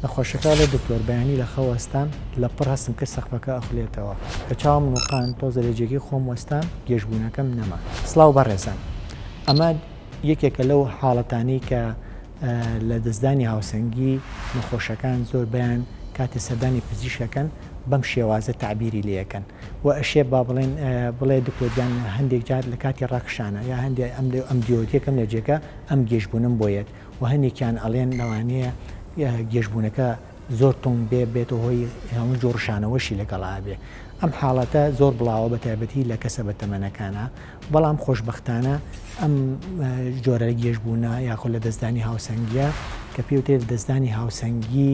نەخۆشە کاڵێ دکتۆر بەیانی لە خەو وەستام لە پڕ هەستم کرد سەقفەکە ئەخولێتەوە کە چاوم نوقاند تۆزە لە جێگەی خۆم وەستام گێژ بونەکەم نەما. سڵاو بەڕێزان ئەمە یەکێکە لەو حاڵەتانەی کە لە دەستدانی هاوسەنگی نەخۆشەکان زۆر بەیان کاتی سەردانی پزیشەکەن بەم شێوازە تەعبیری لێ ئەکەن و ئەشێ با بڵێن بڵێ دکتۆر گیان هەندێک جار لە کاتی ڕەخشانە یا هەندێ ئەم لێ ئەم دیۆتیەکەم لە جێگە ئەم گێژبوونم بۆ یەت و هەنێکیان ئەڵێن لەوانەیە گێژبوونەکە زۆر توند بێ بێتە هۆی هەموو جۆڕ ڕشانەوەشی لەگەڵا بێ ئەم حاڵەتە زۆر بڵاوە بە تایبەتی لە کەسە بە تەمەنەکانە بەڵام خۆشببختانە ئەم جۆرە لە گێژبوونا یاخۆ لە دەستدانی هاوسەنگە کە پێوتێت دەستدانی هاوسەنگی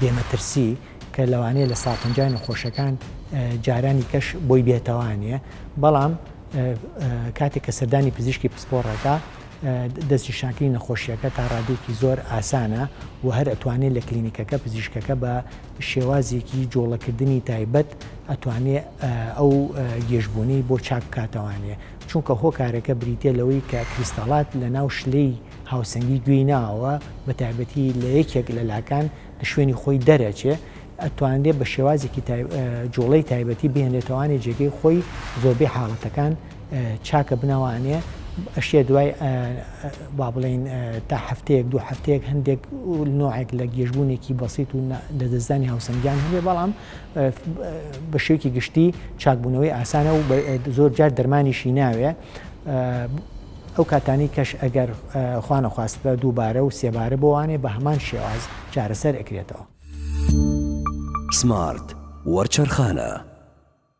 بێمەترسی کە لەوانەیە لە ساپنجای نەخۆشەکان جارانی کەش بۆی بێتەوانێ بەڵام کاتێک کە سەردانی پزیشکی پسپۆڕەکە دەستنیشانکردنی نەخۆشییەکە تا ڕادەیەکی زۆر ئاسانە و هەر ئەتوانێت لە کلینیکەکە پزیشکەکە بە شێوازێکی جۆڵەکردنی تایبەت ئەتوانێت ئەو گێژبوونەی بۆ چاک بکاتەوانێ چونکە هۆکارەکە بریتە لەوەی کە کریستاڵات لە ناو شلەی هاوسەنگی گوێی ناوە بە تایبەتی لە یەکێک لە لاکان لە شوێنی خۆی دەرەچێ ئەتوانێت بە شێوازێکی جۆڵەی تایبەتی بێنێتەوانی جێگەی خۆی زۆربەی حاڵەتەکان چاکە بنەوانێ ئەشێ دوای با بڵین تا هەفتەیەک دو هەفتەیەک هەندێک نوعێک لە گێژبوونێکی بەسییت و لە دەستدانی هاوسەنگیان هەبێ بەڵام بە شێوکی گشتی چاکبوونەوەی ئاسانە و زۆر جار دەرمانیشی ناوێ ئەو کاتانی کەش ئەگەر خوانەخواستە دووبارە و سێبارە بۆوانێ بە هەمان شێواز چارەسەر ئەکرێتەوە سمارت وەرچەرخانە